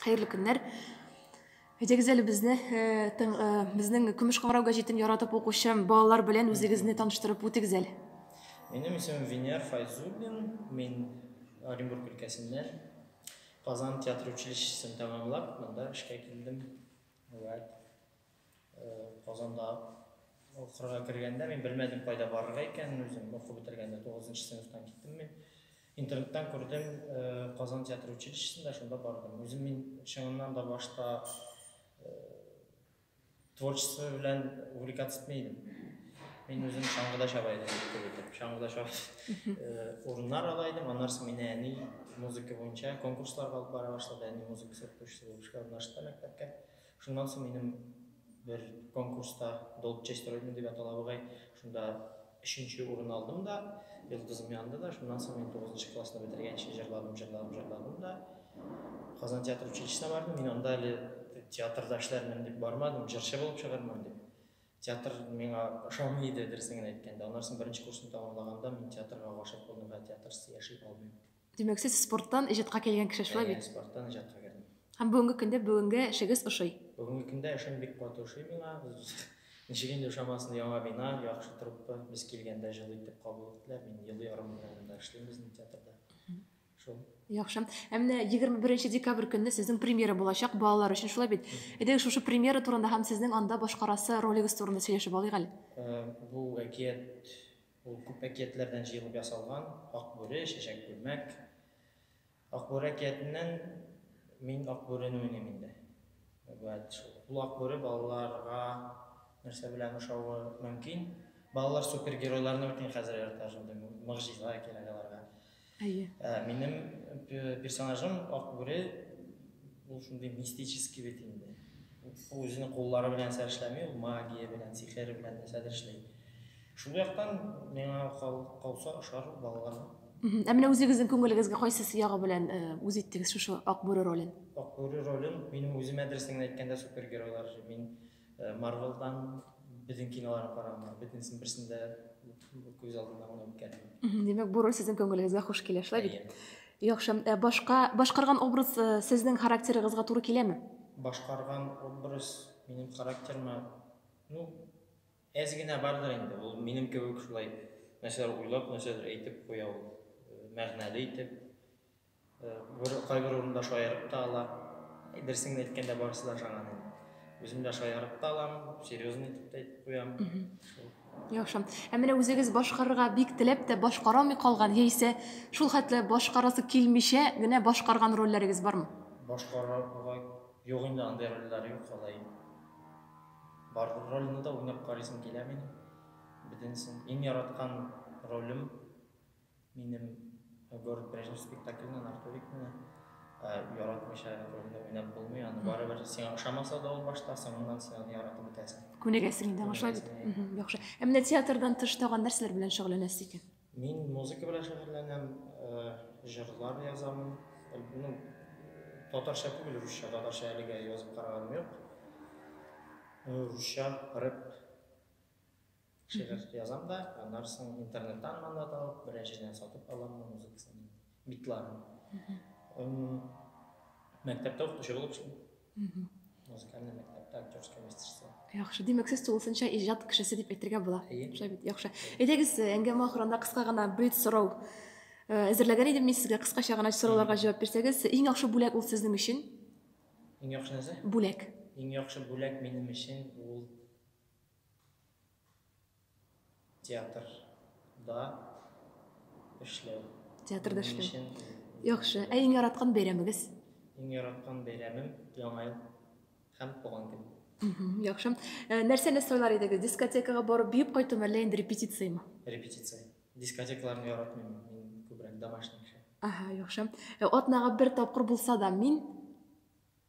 Хәерле көннәр. Әйтегез әле безне э, э, безнең Көмеш кыңгырау гәҗитен яратып укучы балалар белән үзегезне таныштырып үтегез әле. Минем исемем Венер Файзуллин, мин Оренбург өлкәсеннән Казан театр училищесын тәмамлап, монда эшкә килдем. Вот. Казанда укырга кергәндә мин белмәдем кайда барырга икәнен үзем укып бетергәндә 9 нчы сыйныфтан киттем мин. Интернеттан күрдем э, Казан театр училищесында шунда бардым. Үзем мин чыннан да башта э, творчество белән увлекаться итми идем. Мин үзем чаңгыда чаба идем күп итеп. Чаңгыда чаба э, урыннар ала идем. Аннан соң мине әни музыка буенча конкурсларга алып бара башлады. Әни музыка сәпкүчесе булып эшкә урнаштырды мәктәпкә. Шуннан соң минем бер конкурста, Долчесть Родины дип атала бугай, шунда өченче урын алдым да, йолдызым янды да. Шуннан соң мин тугызынчы классны бетергәнче җырладым, җырладым, җырладым да. Казан театр училищесына бардым. Мин анда әле театрда эшләрмен дип бармадым, җырчы булып чыгармын дип. Театр миңа ошамый иде, дөресен генә әйткәндә. Аннан соң беренче курсны тәмамлаганда мин театрга гашыйк булдым һәм театрсыз яши алмыйм. Димәк, сез спорттан иҗатка килгән кеше шулай бит? Спорттан иҗатка кердем. Һәм бүгенге көндә бүгенге эшегез ошый? Бүгенге көндә эшем бик каты ошый миңа. Ничек инде ошамасын, яңа бина, яхшы труппа. Без килгәндә җылы итеп кабул иттеләр. Мин ел ярым белән монда эшлим безнең театрда. Шул. Яхшы. Ә менә 21 декабрь көнне сезнең премьера булачак балалар өчен шулай бит. Әйдәгез шушы премьера турында һәм сезнең анда башкарасы ролегез турында сөйләшеп алыйк әле. Бу әкият Ул күп әкиятләрдән җыелып ясалган, Ак бүре, Чәчәк күлмәк. Ак бүре әкиятеннән мин Ак бүрене уйныйм инде. Вәт шул. Ул Ак бүре балаларга нәрсә белән ошавы мөмкин? Балалар супергеройларны бит инде хәзер ярата шундый мыгҗизага кирәк аларга. Әйе. Ә, минем персонажым Ак бүре, ул шундый мистический бит инде. Ул үзенең куллары белән нәрсә эшләми, ул магия белән, сихер белән нәрсәдер эшли. Шул яктан миңа калса ошар балаларга. Ә менә үзегезнең күңелегезгә кайсы ягы белән э, үз иттегез шушы Акбүре ролен? Акбүре ролен минем үзем әдрәсен әйткәндә супергеройлар. Мин Марвелдан безнең киноларны караганда бөтенесен берсен дә күз алдына гына үткәрмим. Димәк, бу роль сезнең күңелегезгә хуш килә, шулай бит? Яхшы. Ә башка башкарган образ э, сезнең характерыгызга туры киләме? Башкарган образ минем характерыма, ну, әз генә бардыр инде. Ул минем кебек шулай нәрсәләр уйлап, нәрсәдер әйтеп куя ул. Мәгънәле итеп. Бер кайбер урында шаярып та ала. Берсен әйткәндә барысы да шаган инде. Үзем дә шаярып та алам, серьезный итеп тә әйтеп куям. Яхшы. Ә менә үзегез башкарырга бик теләп тә башкарамый калган яисә шул хәтле башкарасы килмичә генә башкарган рольләрегез бармы? Башкарырга юк инде андый рольләр юк алай. Бар рольне дә уйнап карыйсым килә минем. Бөтенсен. Иң яраткан ролем Минем Город прежних спектакльнен Артурикны яратмыйча рольне уйнап булмый, аны барыбер сиңа ошамаса да ул башта, соңыннан син аны яратып бетәсең. Күнегәсең инде аңа бит. Яхшы. Ә менә театрдан тыш тагын нәрсәләр белән шөгыльләнәсез икән? Мин музыка белән шөгыльләнәм, җырлар язамын. Ну, татарча түгел, русча, татарча әлегә язып караганым юк. Русча, рэп. Шигырь язам да, аннары соң интернеттан мандат алып, берәр җирдән сатып алам да музыкасын, битларын. Мәктәптә укытучы булып эшлим. Музыкальный мәктәптә актерское мастерство. Яхшы, димәк, сез тулысынча иҗат кешесе дип әйтергә була. Шулай бит, яхшы. Әйдәгез, әңгәмә ахырында кыска гына блиц сорау э, әзерләгән идем мин сезгә. Кыскача гына сорауларга җавап бирсәгез, иң яхшы бүләк ул сезнең өчен? Иң яхшы нәрсә? Бүләк. Иң яхшы бүләк минем өчен ул Театрда эшләү. Театрда эшләү. Яхшы. Ә иң яраткан бәйрәмегез? Иң яраткан бәйрәмем Яңа ел һәм туган көн. Яхшы. Э, нәрсәне сайлар идегез? Дискотекага барып биеп кайтуны әллә инде репетицияме? Репетиция. Дискотекаларны яратмыйм мин. Мин күбрәк домашний кеше. Ага, яхшы. Э, атнага бер тапкыр булса да, мин